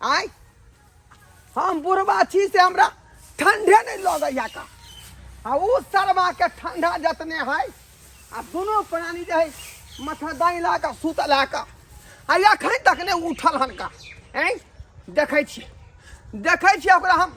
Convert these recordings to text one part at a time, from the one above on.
आय हम बुढ़बा छी से हमरा ठंडे नहीं लगैया का आ उ सरवा के ठंडा जतने है आ दोनों प्राणी जे है माथा दाई ला के सुत ला के आ अखन तक ने उठल हन का हैं देखै छी देखै छी ओकरा हम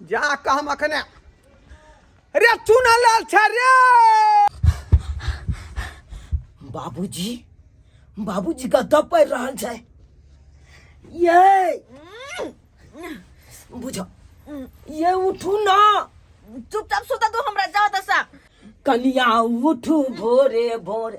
जा कऽ हम अखने रे चुना लाल छै रे बाबूजी बाबूजी कतऽ पड़ि रहल छै ये बुझो ये उठू ना चुपचाप सुता तू हमरा जा दसा कनिया उठू भोरे भोरे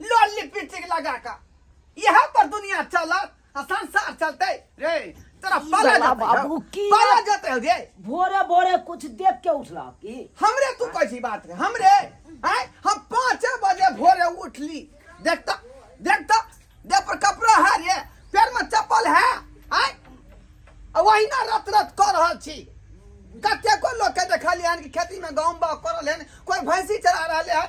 लोली पिटिक लगा का यहाँ पर दुनिया चलत आ संसार चलते रे तोरा पाला बला जाते बाबू हो। की- पाला जाते हो रे भोरे भोरे कुछ देख के उठला की हमरे तू कैसी बात है हमरे आय हम पाँच बजे भोरे उठली देखता देखता देह पर कपड़ा है रे पैर में चप्पल है आय आ वही ना रत रत कर रहल छी कतेको लोग के देखलिए हन कि खेती में गहूम बाग कर रहले हन कोई भैंसी चरा रहले हन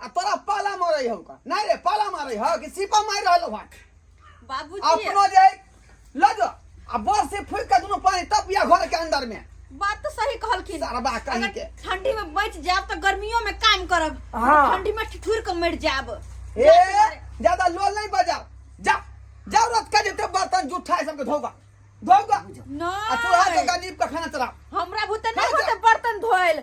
आ तोरा पाला मारै हौ का नहीं रे पाला मारै हौ कि सीपा मार रहल हौ बाबूजी अपनो जे ल जो आ बस से फूक के दोनों पानी तपिया घर के अंदर में बात तो सही कहलखिन सरबा कहीं के ठंडी में बच जाब तो गर्मियों में काम करब हाँ। ठंडी में ठिठुर के मर जाब ए ज्यादा लोल नहीं बजा जा जरूरत का जते बर्तन जूठा है सबके धोगा धोगा ना आ तू हाथ का नीप का खाना चला हमरा भूत नहीं होते बर्तन धोइल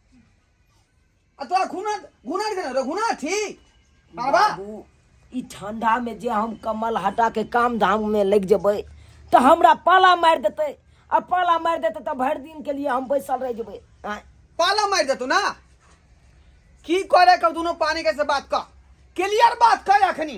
आ तोरा घुना घुना के रे घुना थी बाबा बाबू ई ठंडा में जे हम कमल हटा के काम धाम में लग जेबै तऽ हमरा पाला मारि देतै आ पाला मारि देतै तऽ भरि दिन के लिए हम बैसल रह जेबै आँय? पाला मार देतू ना की करे के दोनों पानी के से बात कर क्लियर बात कर अखनी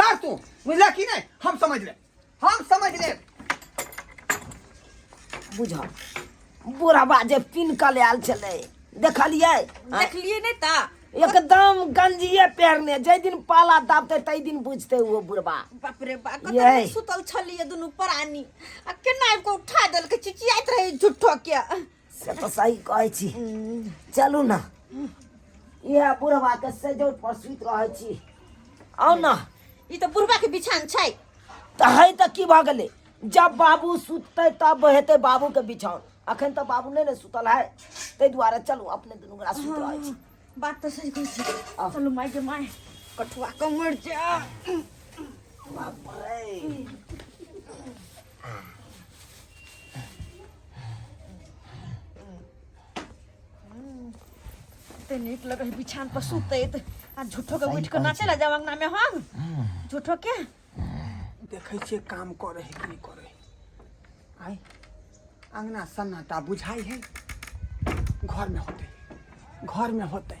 कर तू बुझला कि नहीं हम समझ ले हम समझ ले बुझा बुढ़ाबा जे पिन के ले आयल छलै देखलियै हाँ? देखलिए नहीं ता एकदम गंजिए पेरने जै दिन पाला दाबते तै दिन बुझते वो बुढ़बा बाप रे बा कतऽ यही। सुतल छलिए दुनू प्राणी आ केना आबि कऽ उठा देलकै चिचियाइत रहे झुट्ठो के से तो सही कहै छी चलू ना इहे बुढ़वा के सजौट पर सुत रहै छी आउ ना ई तऽ बुढ़बा के बिछान छै तऽ है तऽ की भऽ गेलै जब बाबू सुततै तब हेतै बाबू के बिछाओन अखन तऽ बाबू नहि ने सुतल है ताहि दुआरे चलू अपने दुनू गोरा सुत रहै छी बात तऽ सही कहै छी चलू माय के माय कठुआ कमर जा बाप रे ते नीक लगे है बिछान पर सुते ते आ झूठो के उठ के नाचे ला जावा अंगना में हम झूठो के देखै छियै काम करै है कि नहि करै है आइ अङ्गना सन्नाटा बुझाइ है घरमे होतै घरमे होतै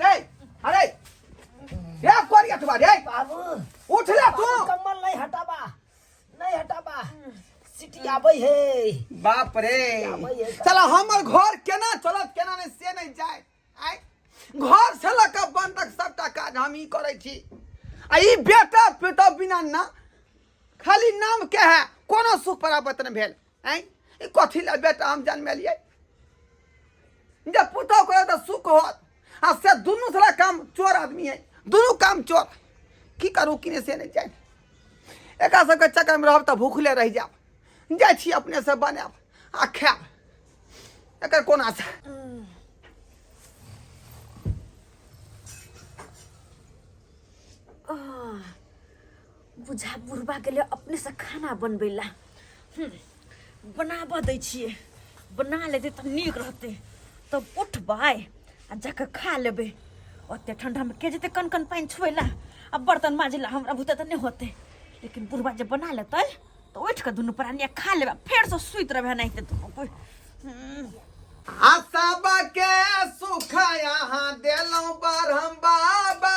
रे अरे रे कोरिया तुबा रे बाबू उठ ले तू बाबू कम्बल नहीं हटाबा नहीं हटाबा सिटी आबै हे बाप रे आबै हे का- साला हमर घर केना चलत केना नहीं से नहीं जाए आय घर से लऽ कऽ बन तक सबटा काज हम ही करै छी आ ई बेटा पेटा बिना ना खाली नाम के है कोनो सुख परापत नहि भेल आँय ई कथी लए बेटा हम जनमेलियै जब पुतौ करे तऽ सुख होत आ से दुनू थोड़ा काम चोर आदमी है दुनू काम चोर की करू किने से नहि जाय एकरा सबके चक्करमे रहब तऽ भूखले रहि जायब जाइ छी अपनेसँ बनायब आ खायब एकर कोना छै बुझा बुढ़बा गेलै अपनेसँ खाना बनबै लए हूँ, बनाबऽ दै छियै बना लेतै तऽ नीक रहतै तब उठबै आ जाकऽ खा लेबै ओते ठण्डामे के जेतै कन कन पानि छुए लए आ बर्तन माजै लए हमरा बुते तऽ नहि होतै लेकिन बुढ़बा जे बना लेतै तऽ उठि कऽ दुनू प्राणी आ खा लेबै आ फेरसँ सुति रहबै एनाहिते दुनू कोइ हूँ, आ सबके सुख यहाँ देलहुँ बरहम बाबा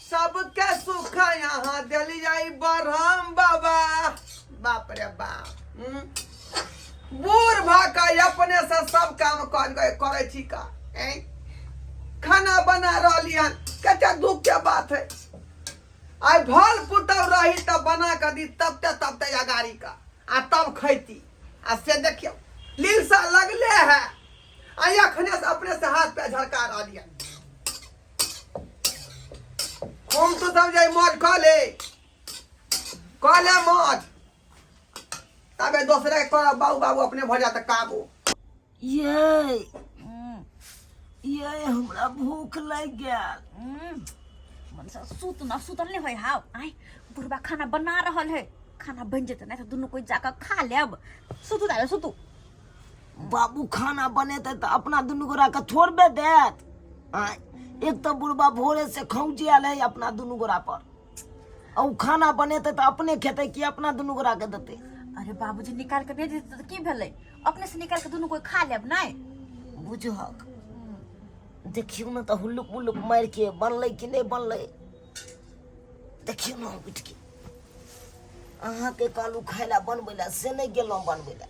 सबके सुख यहाँ दिलिया बरहम बाबा बाप रे बाप हम्म। बूढ़ भऽ कऽ अपने से सब काम कर गए करे छी का ऐं? खाना बना रहली हन कते दुख के बात है आइ भल पुतौ रही तऽ बना कऽ दी तब ते तब ते अगाड़ी का आ तब खैती आ से देखियौ लीलसा लगले है आ अखने से अपने से हाथ पे झड़का रहली हन हम तो तब जाई मौज कह ले कह ले मौज तबे दोसरे के कहब बाबू बाबू अपने भर जाता काबू ये हम्म, ये हमरा भूख लग गेल हम्म, मन से सुत न सुतल नहीं होय हाव आय बुढ़बा खाना बना रहल है खाना बन जेतै नहीं तो दुनू कोई जाकर खा लेब सुतू दादा सुतू बाबू खाना बनेते तऽ अपना दुनू गोरा के थोड़बे देत आँय, एक तऽ बुढ़बा भोरे से खौंचे आयल है अपना दुनू गोरा पर आ उ खाना बनेते तऽ अपने खेते कि अपना दुनू गोरा के देते अरे बाबूजी निकाल के भेज देते तऽ की भेलै अपने से निकाल के दुनू कोई खा लेब नहि बुझहक देखियौ ने तऽ हुल्लुक मुल्लुक मारि के बनलै कि नहि बनलै देखियौ ने उठि के अहाँके कहलू खाय लए बनबै लए से नहि गेलहुँ बनबै लए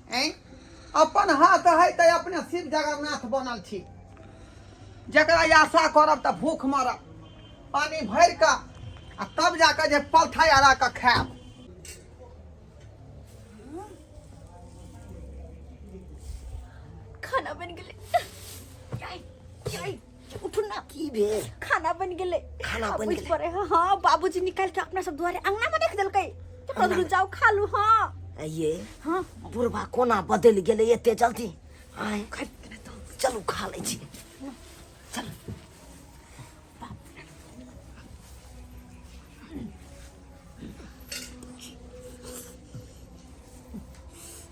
अपन हाथ है तो अपने शिव जगन्नाथ बनल छी जरा आशा करब तो भूख मरब पानी भर के आ तब जाकर जे पलथा आरा के खायब खाना बन गए उठू ना की भेल खाना बन गेले खाना बन गेले पर हां बाबूजी निकाल के अपना सब द्वारे अंगना में रख देलकै तो कदरू जाओ खा लू हां ये हां बुरबा कोना बदल गेले एते जल्दी आए चलू खा ले छी चल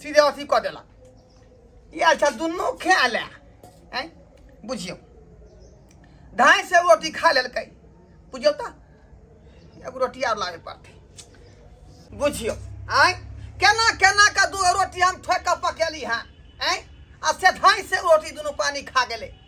सीधे अथी कऽ देलक इएह अच्छा दुनू खा लए आँय बुझियौ धाय से रोटी खा लेलकै बुझियौ तऽ एगो रोटी आर लाबे पड़तै बुझियौ आँय केना केना कऽ दू रोटी हम ठोकि कऽ पकेली हँ आँय आ से धाय से रोटी दुनू पानी खा गेलै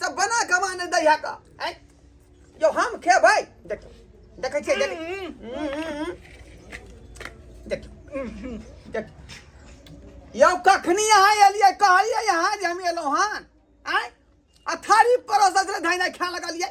सब बना के माने दै है का आय जो हम खेबै देख देखै छियै देख देख देख यौ कखनी अहाँ एलियै कहलियै अहाँ जे हम एलहुँ हन आय आ थारी परोसत रहे धैने खाय लगलियै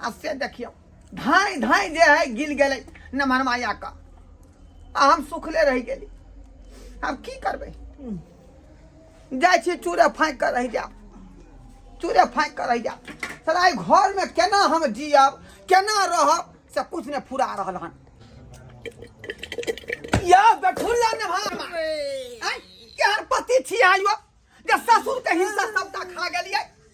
आ से देखियौ धाय धाय जे है गिल गेलै नमहर माया का आ हम सुखले रहि गेली हम की करबै जाइ छी चूरे फाँकि कऽ रहि जायब चूरे फाँकि कऽ रहि जायब साला एहि घरमे केना हम जियब केना रहब से किछु नहि फुरा रहल हन या बेठुल्ला नमहर मा आँय, केहन पति छियै आइयो जे ससुरके हिस्सा सबटा खा गेलियै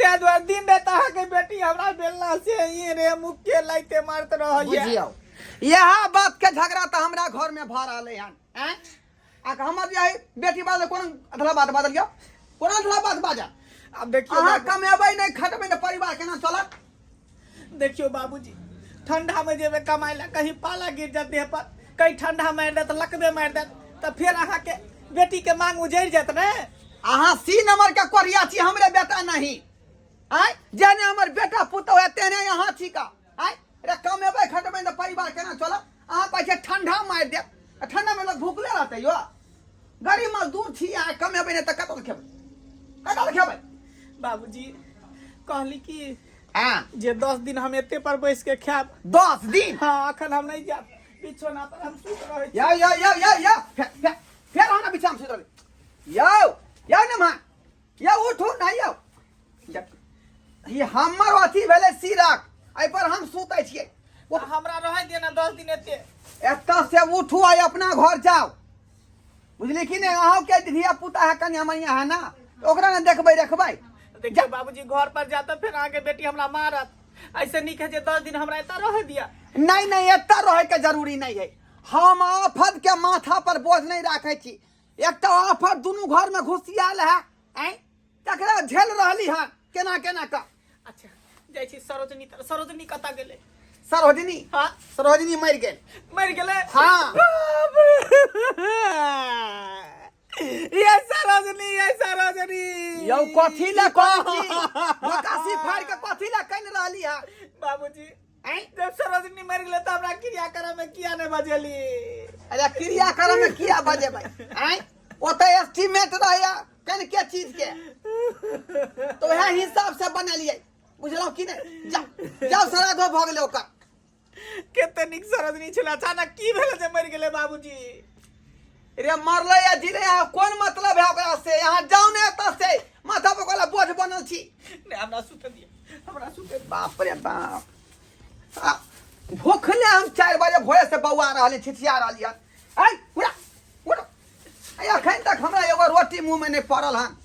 ताहि दुआरे दिन राति अहाँके बेटी हमरा बेलना से ई रे मुख के लाइते मारत रहैया बुझियौ इएह बात के झगड़ा तऽ हमरा घर में भऽ रहलै हन आँय? आ कि हमर जे है बेटी बात कोन अधला बात बाजल यौ कोन अधला बात बाजल आब देखियो अहाँ कमेबै नहि खटबै तऽ परिवार केना चलत देखियो बाबूजी ठंडा में जेबे कमाए ला कहीं पाला गिर जात देह पर कहीं ठंडा मार देत लकबे मार देत तो फिर अहाँ के बेटी के मांग उजड़ जात ने अहाँ सी नंबर के कोरिया छी हमरे बेटा नहीं आय जेने हमर बेटा पुतो है तेने यहाँ छी का आय रे कमेबै खटबै ने परिवार केना चलत अहाँ कहै छियै ठंडा मारि देत आ ठंडामे लोक भूखले रहतै यौ गरीब मजदूर छी अहाँ कमेबै नहि तऽ कतऽसँ खेबै कतऽसँ खेबै बाबूजी कहली कि हँ जे दस दिन हम एते पर बैस के खायब दस दिन हाँ अखन हम नहीं जायब बिछौना पर हम सुत रहे छी यौ यौ यौ यौ यौ फेर फेर- फेर अहाँ बिछाम सुत रहबै यौ यौ ने माँ ये उठू ना यौ ई हमर अथी भेलै सिरक एहि पर हम सुतै छियै ओ हमरा रहै दिअ ने दस दिन एते एतऽ से उठू आ अपना घर जाओ बुझली कि ने अहूँ के धिया पुता है कन्या मैया है ना तो ओकरा ने देखबै रखबै देखिए बाबूजी घर पर जाता फिर आगे बेटी हमरा मारत ऐसे नहीं कहे दस दिन हमरा एता रह दिया नहीं नहीं एता रहे के जरूरी नहीं है हम आफत के माथा पर बोझ नहीं रखे छी एकटा आफत दुनू घर में घुसियाल है ऐं तकरा झेल रहली है केना केना का अच्छा जाइ छी सरोजनी तर सरोजनी कतऽ गेलै सरोजनी हाँ सरोजनी मर गेल मरि गेलै हाँ। बाप रे। ये सरोजनी ये सरोजनी यौ कथी ले कहै छी निकासी फाड़ के कथी ले कनि रहली है बाबूजी सरोजनी मरि गेलै तऽ हमरा क्रिया करऽ मे किया नहि बजेली अरे क्रिया करऽ मे किया बजेबै आँय ओतऽ एस्टिमेट रहैया कनि के चीज के तो वएह हिसाब से बनेलियै बुझलहुँ कि नहि जाउ जाउ सराधो भऽ गेलै ओकर कते नीक सरोजनी छलै अचानक की भेलै जे मरि गेलै बाबूजी रे मरले या जी रे यहाँ कोन मतलब है ओकरा से यहाँ जाओ ने एतऽ से माथा पर कोला बोझ बनल छी ने हमरा सुते दिए हमरा सुते बाप रे बाप आ, भूखले हम चार बजे भोरे से बौआ रहली छिछिया रहली हन आइ उड़ा उड़ा आइ अखन तक हमरा एगो रोटी मुंह में नहीं पड़ल हन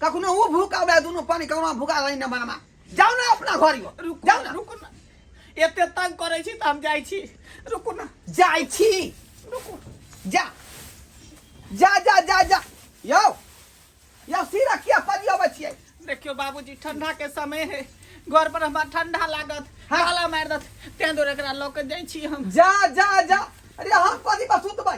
कखनो ऊ भूखा उड़ा दुनू पानी कखनो भूखा रही न मनमा जाओ ना अपना घर यो रुकू जाओ ना रुकू ना एते तंग करे छी त हम जाई छी रुकू ना जाई छी रुकू जा जा जा जा जा यो यो सीरा किया पड़ी अबै छियै देखियो बाबूजी ठंडा के समय है घर पर हमरा ठंडा लागत हाँ। हाला मार दत तें दूर एकरा लऽ के जाई छी हम जा जा जा अरे हम कथी पर सुतबै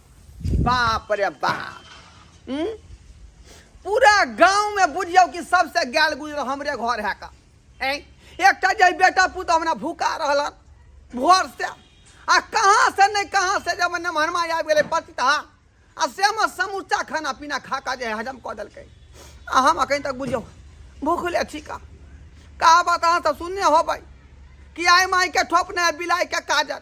बाप रे बाप हम्म? पूरा गांव में बुझियो कि सबसे गैल गुजर हमरे घर है का ऐं? एकटा जे बेटा पुत हमरा भूखा रहलन भोर से आ कहाँ से नहीं कहाँ से जब नमहरमा आबि गेलै पतिता आ से हमर समूचा खाना पीना खा कऽ जे हजम कऽ देलकै आ हम अखन तक बुझियौ भूखले छी का कहावत अहाँ सब सुनने होबै कि आइ माइके ठोपने बिलाइके काजर